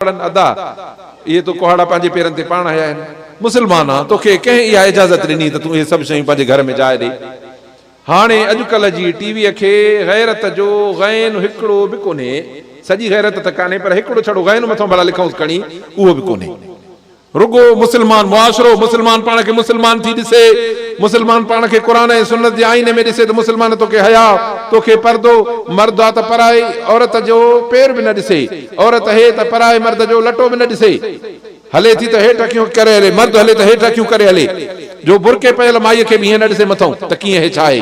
ڪهاڙن ادا! اهي تو ڪهاڙا پنهنجي پيرن تي پاڻ هنيا آهن. مسلمانا! توکي ڪنهن اها اجازت ڏني ته تون اهي سڀ شيون پنهنجي گهر ۾ جاء ڏي؟ هاڻي اڄڪلهه جي ٽي ويء کي غيرت جو غين هڪڙو به ڪونهي. سڄي غيرت ته ڪانهي پر هڪڙو ڇڙو غين مٿو ڀلا لکنئونس کڻي، اهو به ڪونهي. رڳو مسلمان معاشرو، مسلمان پاڻ کي مسلمان ٿي ڏسي، مسلمان پاڻ کي قرآن ۽ سنت جي آئيني ۾ ڏسي ته مسلمان توکي حياء، توکي پردو، مرد آ ته پرائي عورت جو پير به نه ڏسي، عورت هي ته پرائي مرد جو لٽو به نه ڏسي. هلي ٿي ته هيٺ اکيون ڪري هلي، مرد هلي ته هيٺ اکيون ڪري هلي، جو برقعي پيل مائيء کي به ائين نه ڏسي مٿئون ته ڪيئن هي ڇا هي؟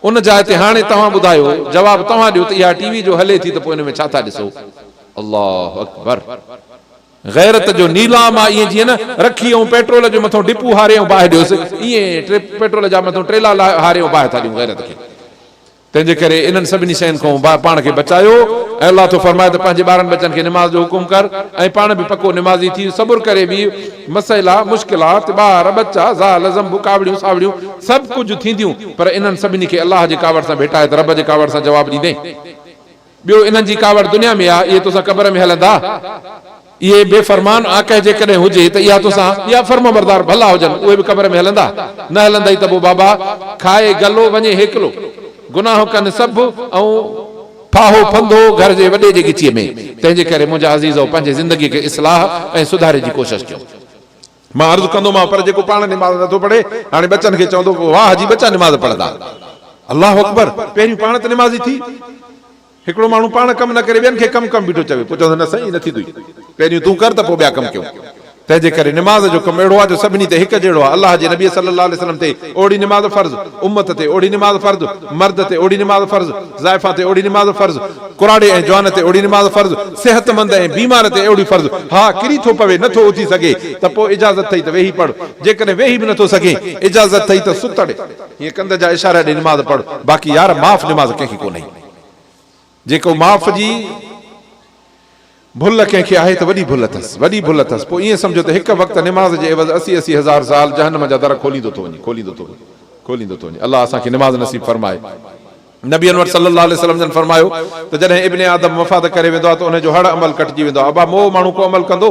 ان جاء تي هاڻي توهان ٻڌايو، جواب توهان ڏيو ته اها ٽي وي جو هلي ٿي ته پوء ان ۾ ڇا ٿا ڏسو؟ الله اڪبر! غيرت جو نيلام آ ائين جيئن نه رکي ائون پيٽرول جي مٿون ڊپو هاري ائون باهه ڏيوس ائين پيٽرول جا مٿون ٽيلا هاري ائون باهه ٿا ڏيون غيرت کي تنهن جي ڪري انهن سڀني شين کان پاڻ کي بچايو ۽ الله ٿو فرمائي ته پنهنجي ٻارن ٻچن کي نماز جو حڪم ڪر ۽ پاڻ به پڪو نمازي ٿي صبر ڪري ويهه مسئلا مشڪلات ٻار ٻچا زال زنب ڪاوڙيون ساوڙيون سڀ ڪجهه ٿينديون پر انهن سڀني کي الله جي ڪاوڙ سان ڀيٽائي ته رب جي ڪاوڙ سان جواب ڏيندين ٻيو انهن جي ڪاوڙ دنيا ۾ آ، اهي توسان قبر ۾ هلندا. اهي بي فرمان آ ڪهه جيڪڏهن هجي ته اها توسان ٻيا فرمانبردار ڀلا هجن اهي به قبر ۾ هلندا، نه هلندئي ته پوء بابا کائي گلو وڃي هيڪلو گناهه ڪن سڀ ۽ ڦاهو ڦندو گهر جي وڏي جي ڳچيء ۾، تنهنجي ڪري منهنجا عزيزؤ پنهنجي زندگيء کي اصلاح ۽ سڌاري جي ڪوشش ڪيو. مان عرض ڪندومانء پر جيڪو پاڻ نماز نه ٿو پڙهي هاڻي ٻچن کي چوندو ڪو واهه جي ٻچا نماز پڙهندا. الله اڪبر پهريون پاڻ ته نمازي ٿي. هڪڙو ماڻهو پاڻ ڪم نه ڪري ٻين کي ڪم ڪم بيٺو چوي پوء چوندو نه سائين ائين نه ٿيندو پهريون تون ڪر ته پوء ٻيا ڪم ڪيون تنهن جي ڪري نماز جو ڪم اهڙو آهي جو سڀني تي هڪ جهڙو آهي الله جي نبي صلي الله عليه وسلم تي اوڙي نماز فرض امت تي اوڙي نماز فرض مرد تي اوڙي نماز فرض زائفا تي اهڙي نماز فرض، ڪراڙي ۽ جوان تي اهڙي نماز فرض، صحتمند ۽ بيمار تي اهڙي فرض، ها ڪري ٿو پوي نه ٿو اٿي سگهي ته پوء اجازت اٿئي ته ويهي پڙهه، جيڪڏهن ويهي به نه ٿو سگهين اجازت اٿئي ته ستڙي هيئن ڪنڌ جا اشارا ڏئي نماز پڙهه، باقي يار معاف نماز ڪنهن کي ڪونهي جيڪو معاف جي. ڀل ڪنهن کي آهي ته وڏي ڀل اٿس، وڏي ڀل اٿس، پوء ائين سمجهو ته هڪ وقت نماز جي عيوض اسي اسي هزار سال جهنم جا در کوليندو ٿو وڃي، کوليندو ٿو وڃي، کوليندو ٿو وڃي. الله اسان کي نماز نصيب فرمائي. نبي انور صلي الله عليه وسلم جن فرمايو ته جڏهن ابن آدم مفاد ڪري ويندو آهي ته ان جو هڙ عمل ڪٽجي ويندو آهي. ابا مئو ماڻهو ڪو عمل ڪندو؟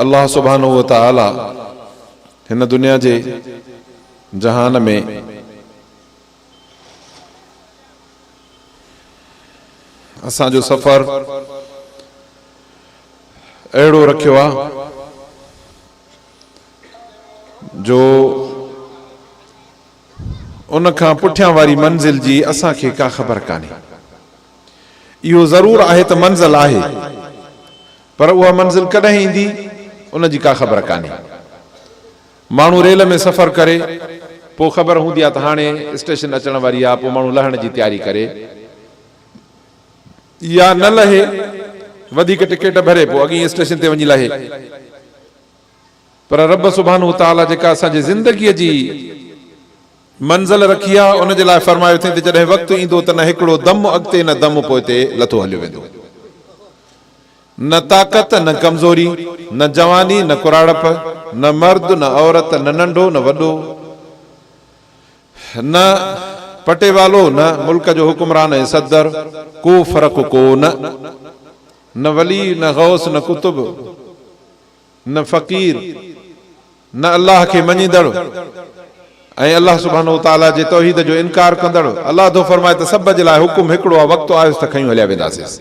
الله سبحانه وتعاليٰ هن دنيا جي جهان ۾ اسان جو سفر اهڙو رکيو آ جو ان کان پٺيان واري منزل جي اسان کي ڪا خبر ڪانهي اهو ضرور آهي ته منزل آهي، پر اها منزل ڪڏهن ايندي، ان جي ڪا خبر ڪانهي. ماڻهو ريل ۾ سفر ڪري، پوء خبر هوندي آهي ته هاڻي اسٽيشن اچڻ واري آهي، پوء ماڻهو لهڻ جي تياري ڪري يا نه لهي، وڌيڪ ٽڪيٽ ڀري پوء اڳئين اسٽيشن تي وڃي لهي. پر رب سبحانه وتعاليٰ جيڪا اسان جي زندگيء جي منزل رکي آ، ان جي لاء فرمايو اٿئين ته جڏهن وقت ايندو ته نه هڪڙو دم اڳتي نه دم پوئتي لٿو هليو ويندو. نه طاقت نه ڪمزوري، نه جواني نه ڪراڙپ، نه مرد نه عورت، نه ننڍو نه وڏو، نه پٽيوالو نه ملڪ جو حڪمران ۽ صدر، ڪو فرق ڪو نه. نه ولي نه غوث نه قطب. نه فقير، نه الله کي مڃيندڙ ۽ الله سبحانه وتعاليٰ جي توحيد جو انڪار ڪندڙ. الله ٿو فرمائي ته سڀ جي لاء حڪم هڪڙو آهي، وقت آيس ته کنيون هليا وينداسيس.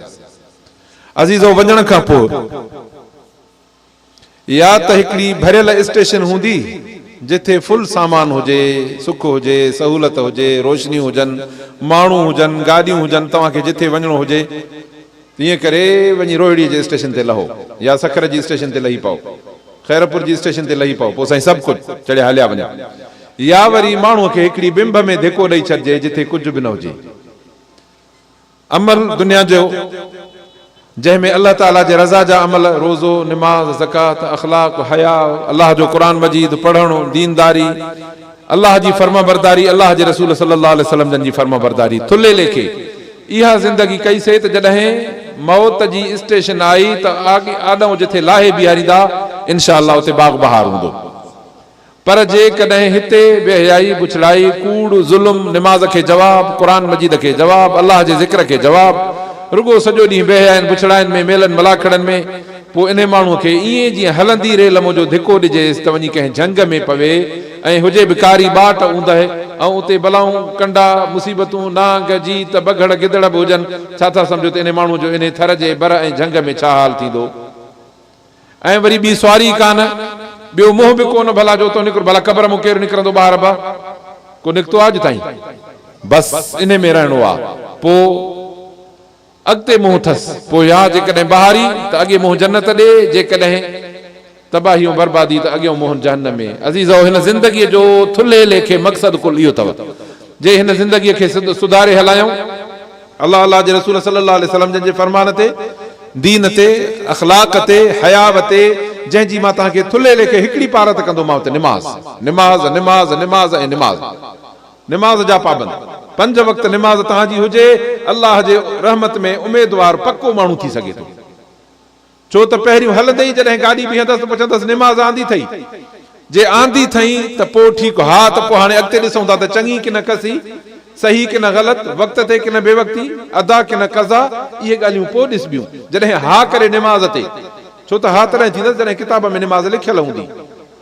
عزيزو وڃڻ کان پوء يا ته هڪڙي ڀريل اسٽيشن هوندي جٿي فل سامان هجي، سک هجي، سهولت هجي، روشنيون هجن، ماڻهو هجن، گاڏيون هجن، توهان کي جٿي وڃڻو هجي. تنهن ڪري وڃي روهڙيء جي اسٽيشن تي لهو يا سکر جي اسٽيشن تي لهي پئو، خيرپور جي اسٽيشن تي لهي پئو، پوء سائين سڀ ڪجهه چڙهي هليا وڃو. يا وري ماڻهوء کي هڪڙي بنب ۾ ڌڪو ڏئي ڇڏجي جتي ڪجهه به نه هجي. عمل دنيا جو، جنهن ۾ الله تعاليٰ جي رضا جا عمل، روزو، نماز، زڪوات، اخلاق، حياء، الله جو قرآن مجيد پڙهڻ، دينداري، الله جي فرمانبرداري الله جي رسول صلي الله عليه وسلم جن جي فرمانبرداري ٿلهي ليکي اها زندگي ڪئي سي ته جڏهن موت جي اسٽيشن آئي ته آڏئون جٿي لاهي بيهاريندا انشاء الله اتي باغ بهار هوندو پر جي ڪڏهن هتي بي حيائي بڇڙائي ڪوڙ ظلم نماز کي جواب قرآن مجيد کي جواب الله جي ذڪر کي جواب رڳو سڄو ڏينهن بي حيائين بڇڙائين ۾ ميلن ملاکڙن ۾ پوء انهي ماڻهوء کي ائين جيئن هلندي ريل منهنجو ڌڪو ڏجيس ته وڃي ڪنهن جهنگ ۾ پوي ۽ هجي به ڪاري ٻاٽ اوندهه ۽ اتي بلائون، ڪنڊا، مصيبتون، نانگ، جيت، بگهڙ، گدڙ به هجن، ڇا ٿا سمجهو ته انهي ماڻهوء جو انهي ٿر جي بر ۽ جهنگ ۾ ڇا حال ٿيندو؟ ۽ وري ٻي سواري ئي ڪانه، ٻيو منهن به ڪونه ڀلا جو اتئون نڪرو، ڀلا قبر مون ڪير نڪرندو ٻاهر به ڪو نڪتو آهي اڄ تائين؟ بس انهي ۾ رهڻو آ پوء. اڳتي منهن اٿس پوء يا جيڪڏهن بهاري ته اڳي منهن جنت ڏي جيڪڏهن تباهي ۽ بربادي ته اڳيون منهن جهنم ۾. عزيزؤ! هن زندگيء جو ٿلهي ليکي مقصد ڪل اهو اٿو جي هن زندگيء کي سڌاري هلايون. الله الله جي رسول صلي الله عليه وسلم جن جي فرمان تي، دين تي، اخلاق تي، حياء تي، جنهن جي مان توهان کي ٿلهي ليکي هڪڙي پارت ڪندومانو ته نماز. نماز، نماز، نماز ۽ نماز. نماز جا پابند، پنج وقت نماز توهان جي هجي، الله جي رحمت ۾ اميدوار پڪو ماڻهو ٿي سگهي ٿو. ڇو ته پهريون هلندي ئي جڏهن گاڏي بيهندس ته پڇندس نماز آندي اٿئي؟ جي آندي اٿئي ته پوء ٺيڪ، ها ته پوء هاڻي اڳتي ڏسون ٿا ته چڱي ڪنه ڪسي، صحيح ڪنه غلط، وقت تي ڪنه بي وقتي، ادا ڪنه قضا، اهي ڳالهيون پوء ڏسبيون، جڏهن ها ڪري نماز تي، ڇو ته ها تڏهن ٿيندس جڏهن ڪتاب ۾ نماز لکيل هوندي.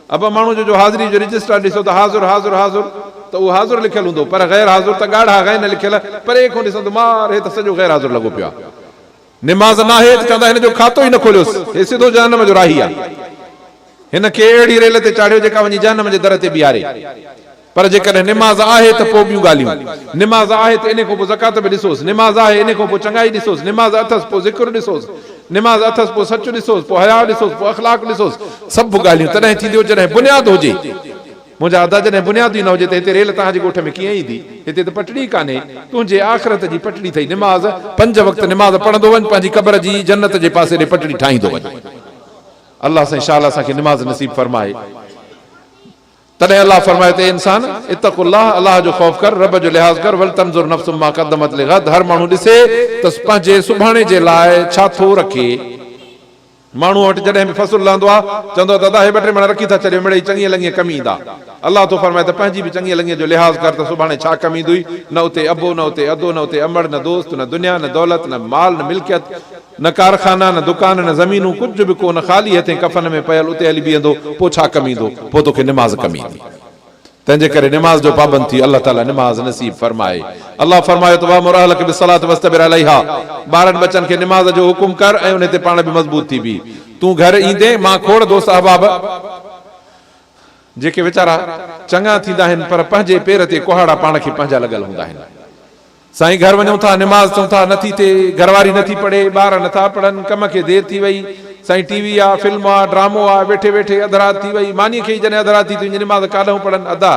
اڀ ماڻهو جو جو حاضري جو رجسٽار ڏسو ته حاضر حاضر حاضر ته اهو حاضر لکيل هوندو پر غير حاضر ته ڳاڙها غين لکيل پري کون ڏسن ته مار هي ته سڄو غير حاضر لڳو پيو آهي نماز ناهي ته چوندا هن جو کاتو ئي نه کوليوس هي سڌو جهنم جو راهي آهي هن کي اهڙي ريل تي چاڙهيو جيڪا وڃي جهنم جي در تي بيهاري. پر جيڪڏهن نماز آهي ته پوء ٻيون ڳالهيون، نماز آهي ته انهي کان پوء زڪوات به ڏسوس، نماز آهي انهي کان پوء چڱائي ڏسوس، نماز اٿس پوء ذڪر ڏسوس، نماز اٿس پوء سچ ڏسوس، پوء حياء ڏسوس، پوء اخلاق ڏسوس، سڀ ڳالهيون تڏهن ٿينديون جڏهن بنياد هجي. منهنجا ادا جڏهن بنياد ئي نه هجي ته هتي ريل توهان جي ڳوٺ ۾ ڪيئن ايندي؟ هتي ته پٽڙي ئي ڪانهي، تنهنجي آخرت جي پٽڙي اٿئي نماز، پنج وقت نماز پڙهندو وڃ پنهنجي قبر جي جنت جي پاسي ڏي پٽڙي ٺاهيندو وڃ. الله سائين شاله اسان کي نماز نصيب فرمائي. تڏهن الله فرمايو ته اي انسان! اتقوا الله، الله جو خوف ڪر، رب جو لحاظ ڪر، ولتنظر نفس ما قدمت لغد، هر ماڻهو ڏسي ته پنهنجي سڀاڻي جي لاء ڇا ٿو رکي. ماڻهوء وٽ جڏهن به فصل لهندو آهي، چوندو آهي ته ادا هي ٻه ٽي مڻ رکي ٿا ڇڏيو، مڙئي چڱيء لڱيء ڪم ايندا. الله ٿو فرمائي ته پنهنجي به چڱيء لڱيء جو لحاظ ڪر ته سڀاڻي ڇا ڪم ايندوئي، نه اتي ابو، نه اتي ادو، نه اتي امڙ، نه دوست، نه دنيا، نه دولت، نه مال، نه ملڪيت، نه ڪارخانا، نه دڪان، نه زمينون، ڪجهه به ڪو نه، خالي هٿين ڪفن ۾ پيل اتي هلي بيهندو، پوء ڇا ڪم ايندو؟ پوء توکي نماز ڪم ايندي. تنهنجي ڪري نماز جو پابند ٿي، الله تعاليٰ نماز نصيب فرمائي. الله فرمايو ته وامر اهلک بالصلاة واصطبر عليها، ٻارن ٻچن کي نماز جو حڪم ڪر ۽ انهي تي پاڻ به مضبوط ٿي بيهه. تون گهر ايندين، مان کوڙ دوست احباب، جيڪي ويچارا چڱا ٿيندا آهن پر پنهنجي پير تي ڪهاڙا پاڻ کي پنهنجا لڳل هوندا آهن. سائين گهر وڃون ٿا نماز چون ٿا نه ٿي ٿئي گهر واري نه ٿي پڙهي ٻار نه ٿا پڙهن ڪم کي دير ٿي وئي سائين ٽي وي آ فلم آ ڊرامو آ ويٺي ويٺي اڌ رات ٿي وئي ماني کي ئي جڏهن اڌ رات ٿي ٿي وڃي نماز ڪاڏهون پڙهن ادا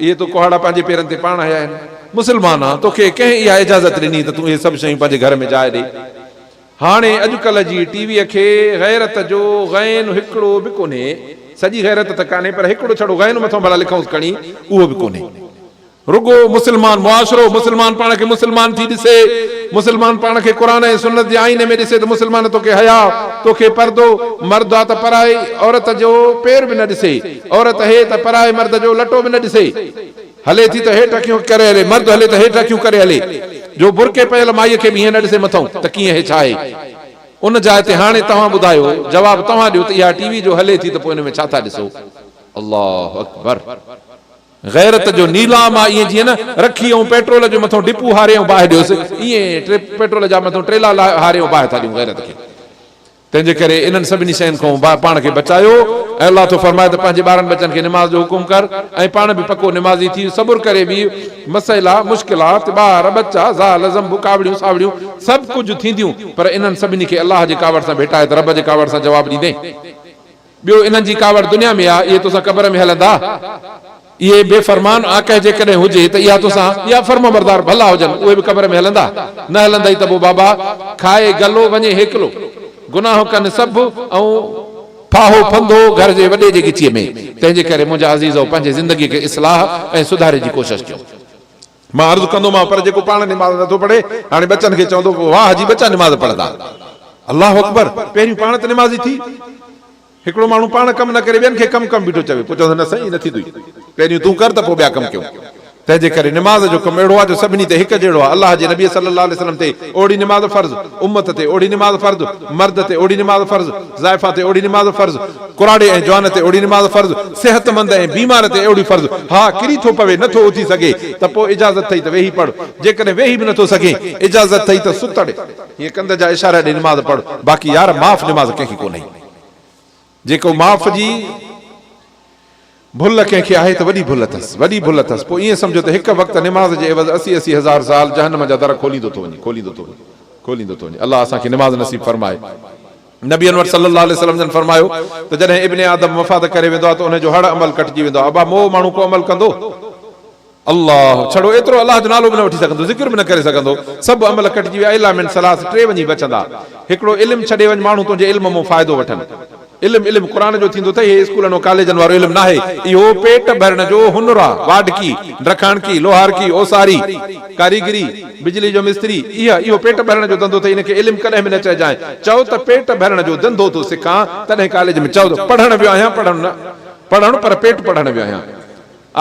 اهي تو ڪهاڙا پنهنجي پيرن تي پاڻ هنيا آهن مسلمان آن توکي ڪنهن اها اجازت ڏني ته تون اهي سڀ شيون پنهنجي گهر ۾ جاء ڏي هاڻي اڄڪلهه جي ٽي وي کي غيرت جو غين هڪڙو به ڪونهي سڄي غيرت ته ڪانهي پر هڪڙو ڇڙو غين مٿون ڀلا لکونس کڻي اهو به ڪونهي رڳو مسلمان معاشرو، مسلمان پاڻ کي مسلمان ٿي ڏسي، مسلمان پاڻ کي قرآن ۽ سنت جي آئيني ۾ ڏسي ته مسلمان توکي حياء، توکي پردو، مرد آ ته پرائي عورت جو پير به نه ڏسي، عورت هي ته پرائي مرد جو لٽو به نه ڏسي. هلي ٿي ته هيٺ اکيون ڪري هلي، مرد هلي ته هيٺ اکيون ڪري هلي، جو برقعي پيل مائيء کي به ائين نه ڏسي مٿئون ته ڪيئن هي ڇا هي؟ ان جاء تي هاڻي توهان ٻڌايو، جواب توهان ڏيو ته اها ٽي وي جو هلي ٿي ته پوء ان ۾ ڇا ٿا ڏسو؟ الله اڪبر! غيرت جو نيلام آ ائين جيئن نه رکي ائون پيٽرول جي مٿون ڊپو هاري ائون باهه ڏيوس ائين پيٽرول جا مٿون ٽيلا لاهي هاري ائون باهه ٿا ڏيون غيرت کي تنهن جي ڪري انهن سڀني شين کون پاڻ کي بچايو ۽ الله ٿو فرمائي ته پنهنجي ٻارن ٻچن کي نماز جو حڪم ڪر ۽ پاڻ به پڪو نمازي ٿي صبر ڪري ويهه مسئلا مشڪلات ٻار ٻچا زال زنب ڪاوڙيون ساوڙيون سڀ ڪجهه ٿينديون پر انهن سڀني کي الله جي ڪاوڙ سان ڀيٽائي ته رب جي ڪاوڙ سان جواب ڏيندين ٻيو انهن جي ڪاوڙ دنيا ۾ آ، اهي توسان قبر ۾ هلندا. اهي بي فرمان آ ڪهه جيڪڏهن هجي ته اها توسان ٻيا فرمانبردار ڀلا هجن اهي به قبر ۾ هلندا، نه هلندئي ته پوء بابا کائي گلو وڃي هيڪلو گناهه ڪن سڀ ۽ ڦاهو ڦندو گهر جي وڏي جي ڳچيء ۾، تنهن جي ڪري منهنجا عزيزؤ پنهنجي زندگيء کي اصلاح ۽ سڌاري جي ڪوشش ڪيو. مان عرض ڪندومانء پر جيڪو پاڻ نماز نه ٿو پڙهي هاڻي ٻچن کي چوندو پوء واهه جي ٻچا نماز پڙهندا. الله اڪبر پهريون پاڻ ته نمازي ٿي. هڪڙو ماڻهو پاڻ ڪم نه ڪري ٻين کي ڪم ڪم بيٺو چوي پوء چوندو نه سائين ائين نه ٿيندو پهريون تون ڪر ته پوء ٻيا ڪم ڪيون تنهن جي ڪري نماز جو ڪم اهڙو آهي جو سڀني تي هڪ جهڙو آهي الله جي نبي صلي الله عليه وسلم تي اوڙي نماز فرض امت تي اوڙي نماز فرض مرد تي اوڙي نماز فرض زائفا تي اهڙي نماز فرض، ڪراڙي ۽ جوان تي اهڙي نماز فرض، صحتمند ۽ بيمار تي اهڙي فرض، ها ڪري ٿو پوي نه ٿو اٿي سگهي ته پوء اجازت اٿئي ته ويهي پڙهه، جيڪڏهن ويهي به نه ٿو سگهين اجازت اٿئي ته ستڙي هيء ڪنڌ جا اشارا ڏئي نماز پڙهه، باقي يار معاف نماز ڪنهن کي ڪونهي جيڪو معاف جي. ڀل ڪنهن کي آهي ته وڏي ڀل اٿس، وڏي ڀل اٿس، پوء ائين سمجهو ته هڪ وقت نماز جي عيوض اسي اسي هزار سال جهنم جا در کوليندو ٿو وڃي، کوليندو ٿو وڃي، کوليندو ٿو وڃي. الله اسان کي نماز نصيب فرمائي. نبي انور صلي الله عليه وسلم جن فرمايو ته جڏهن ابن آدم مفاد ڪري ويندو آهي ته ان جو هڙ عمل ڪٽجي ويندو آهي. ابا مئو ماڻهو ڪو عمل ڪندو؟ الله، ڇڙو ايترو الله جو نالو به نه وٺي سگهندو، ذڪر به نه ڪري سگهندو، سڀ عمل ڪٽجي ويا الا من ثلاث ٽي وڃي بچندا، هڪڙو علم ڇڏي وڃ ماڻهو تنهنجي علم مون فائدو وٺن، علم علم قرآن جو ٿيندو اٿئي هي اسڪولن و ڪاليجن وارو علم ناهي، اهو پيٽ ڀرڻ جو هنر آ، واڍڪي، ڊرکاڻڪي، لوهارڪي، اوساري، ڪاريگري، بجلي جو مستري، اهي اهو پيٽ ڀرڻ جو ڌنڌو اٿئي ان کي علم ڪڏهن به نه چئجانء، چئو ته پيٽ ڀرڻ جو ڌنڌو ٿو سکان تڏهن ڪاليج ۾ چئو ته پڙهڻ ويو آهيان پڙهڻ نه پڙهڻ پر پيٽ پڙهڻ ويو آهيان.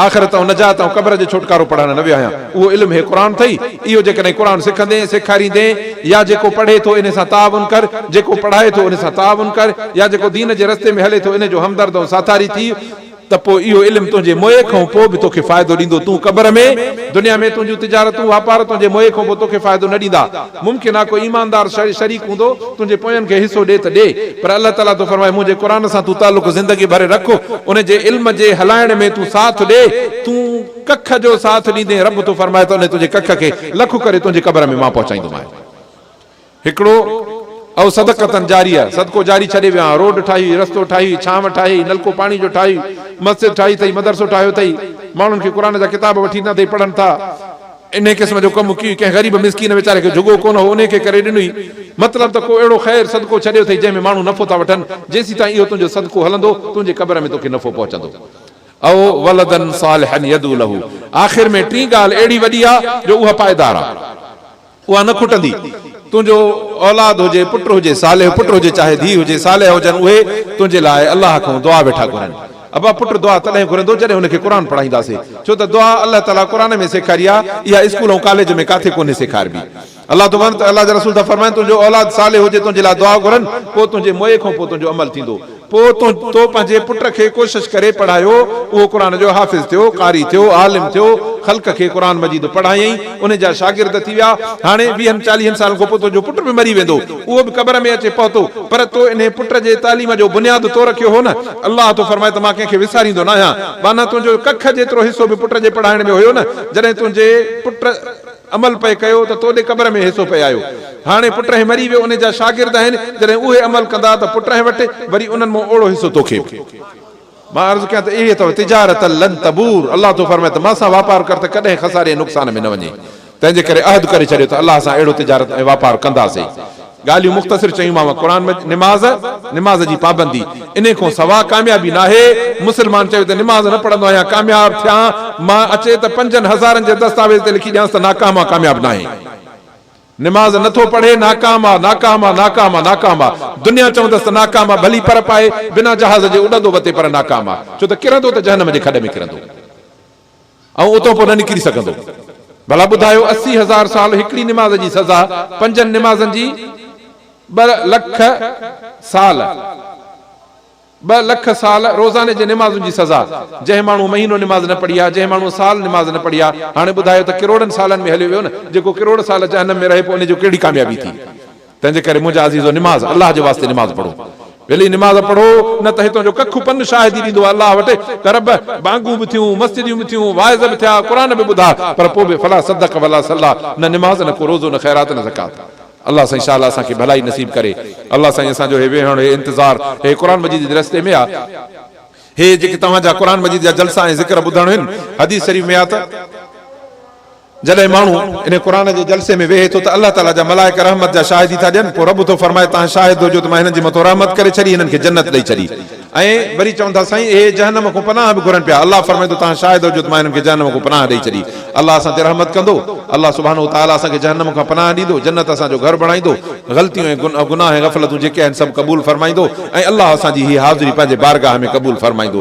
آخرت ۽ نجات ۽ قبر جو ڇوٽڪارو پڙهڻ نه ويو آهيان، اهو علم هي قرآن اٿئي، اهو جيڪڏهن قرآن سکندين، سيکاريندين، يا جيڪو پڙهي ٿو ان سان تعاون ڪر، جيڪو پڙهائي ٿو ان سان تعاون ڪر، يا جيڪو دين جي رستي ۾ هلي ٿو ان جو همدرد ۽ ساٿاري ٿي، ته پوء اهو علم تنهنجي موئي کان پوء به توکي فائدو ڏيندو، تون قبر ۾، دنيا ۾، تنهنجون تجارتون، واپار تنهنجي موئي کان پوء توکي فائدو نه ڏيندا. ممڪن آ ڪو ايماندار شخص شريڪ هوندو تنهنجي پوين کي حصو ڏي ته ڏي پر الله تعالي ٿو فرمائي منهنجي قرآن سان تون تعلق زندگي ڀر رک ان جي علم جي هلائڻ ۾ تون ساٿ ڏي تون ڪک جو ساٿ ڏيندين رب ٿو فرمائي ته ان تنهنجي ڪک کي لک ڪري تنهنجي قبر ۾ مان پهچائيندومانء هڪڙو او صدقة جاريه صدقو جاري ڇڏي ويو آهيان روڊ ٺاهي هئي رستو ٺاهي هئي ڇانو ٺاهي هئي نلڪو پاڻي جو ٺاهي هئي مسجد ٺاهي اٿئي مدرسو ٺاهيو اٿئي ماڻهن کي قرآن جا ڪتاب وٺي ڏنا اٿئي پڙهن ٿا انهيء قسم جو ڪم ڪي ڪنهن غريب مسڪين ويچاري کي جھڳو ڪونه هو انهيء کي ڪري ڏنئي. مطلب ته ڪو اهڙو خير، صدقو، ڇڏيو اٿئي جنهن ۾ ماڻهو نفعو ٿا وٺن. جيسيتائين اهو تنهنجو صدقو هلندو، تنهنجي قبر ۾ توکي نفعو پهچندو. او ولدا صالحا يدعو له آخر ۾ ٽين ڳالهه اهڙي وڏي آ جو اها پائيدار آ. اها نه کٽندي. تنهنجو اولاد هجي، پٽ هجي، صالح پٽ هجي چاهي ڌيء هجي، صالحه هجن اهي تنهنجي لاء الله کان دعا ويٺا گهرن. ابا پٽ دعا تڏهن گهرندو جڏهن هن کي قرآن پڙهائينداسي ڇو ته دعا الله تعالي قرآن ۾ سيکاري آ اها اسڪول ۽ ڪاليج ۾ ڪاٿي ڪونهي سيکاربي الله تو ورن ته الله جا رسول ٿا فرمائن تنهنجو اولاد صالح هجي تنهنجي لاء دعا گهرن پوء تنهنجي موئي کان پوء تنهنجو عمل ٿيندو پوء تو پنهنجي پٽ کي ڪوشش ڪري پڙهايو اهو قرآن جو حافظ ٿيو قاري ٿيو عالم ٿيو خلق کي قرآن مجيد پڙهايائين انهن جا شاگرد ٿي ويا هاڻي ويهن چاليهن سالن کان پوء تنهنجو پٽ به مري ويندو اهو به قبر ۾ اچي پهتو پر تو انهي پٽ جي تعليم جو بنياد تو رکيو هو نه الله ٿو فرمائي ته مان ڪنهن کي وساريندو ناهيان، ٻانهن تنهنجو جو ڪک جيترو حصو به پٽ جي پڙهائڻ ۾ هيو نه، جڏهن تنهنجي پٽ عمل پئي ڪيو ته توڏي قبر ۾ حصو پئي آيو. هاڻي پٽهين مري ويو انهي جا شاگرد آهن، جڏهن اهي عمل ڪندا ته پٽهين وٽ وري انهن مان اوڙو حصو توکي به مان عرض ڪيان ته اهي اٿئو تجارة لن تبور الله ٿو فرمائي ته مان سان واپار ڪر ته ڪڏهن خساري ۽ نقصان ۾ نه وڃين. تنهن جي ڪري عهد ڪري ڇڏيو ته الله سان اهڙو تجارت ۽ واپار ڪنداسين. ڳالهيون مختصر چيومانو قرآن مجيد نماز، نماز جي پابندي، انهي کون سوا ڪاميابي ناهي، مسلمان چوي ته نماز نه پڙهندو آهيان ڪامياب ٿيان، مان اچي ته پنجن هزارن جي دستاويز تي لکي ڏيانس ته ناڪام آ ڪامياب ناهي. نماز نٿو پڙهي ناڪام آ، ناڪام آ، ناڪام آ، ناڪام آ. دنيا چوندس ته ناڪام آ ڀلي پر پائي، بنا جهاز جي اڏندو وتي پر ناڪام آ. ڇو ته ڪرندو ته جهنم جي کڏ ۾ ڪرندو. ۽ اتو پوء نه نڪري سگهندو. ڀلا ٻڌايو اسي هزار سال هڪڙي نماز جي سزا پنجن نمازن جي ٻه لک سال ٻه لک سال روزاني جي نمازن جي سزا جنهن ماڻهو مهينو نماز نه پڙهي ها جنهن ماڻهو سال نماز نه پڙهي ها هاڻي ٻڌايو ته ڪروڙن سالن ۾ هليو ويو نه جيڪو ڪروڙ سال جهنم ۾ رهي پوء ان جو ڪهڙي ڪاميابي ٿي. تنهنجي ڪري منهنجا عزيزو نماز الله جي واسطي نماز پڙهو ويلي نماز پڙهو نه ته هتان جو ڪک پن شاهدي ڏيندو الله وٽ ته رب ٻانگون به ٿيون مسجديون به ٿيون واعظ به ٿيا قرآن به ٻڌا پر پوء به فلا صدق ولا صليٰ نه نماز نه ڪو روزو نه خيرات نه زڪوات الله سائين شالا اسان کي ڀلائي نصيب ڪري الله سائين اسان جو هي ويهڻ هي انتظار هي قرآن مجيد جي رستي ۾ آ هي جيڪي توهان جا قرآن مجيد جا جلسا ۽ ذڪر ٻڌڻ هن حديث شريف ۾ آ ته. جڏهن ماڻهو انهي قرآن جي جلسي ۾ ويهي ٿو ته الله تعاليٰ جا ملائڪ رحمت جا شاهدي ٿا ڏين، پوء رب ٿو فرمائي توهان شاهد هجو ته مان هنن جي مٿو رحمت ڪري ڇڏي هنن کي جنت ڏئي ڇڏي ۽ وري چون ٿا سائين اهي جهنم کون پناهه به گهرن پيا الله فرمائيندو توهان شاهد هجو ته مان هنن کي جهنم کون پناهه ڏئي ڇڏي الله اسان تي رحمت ڪندو الله سبحانه وتعاليٰ اسان کي جهنم کان پناهه ڏيندو جنت اسان جو گهر بڻائيندو غلطيون ۽ گناهه ۽ غفلتون جيڪي آهن سڀ قبول فرمائيندو ۽ الله اسان جي هي حاضري پنهنجي بارگاهه ۾ قبول فرمائيندو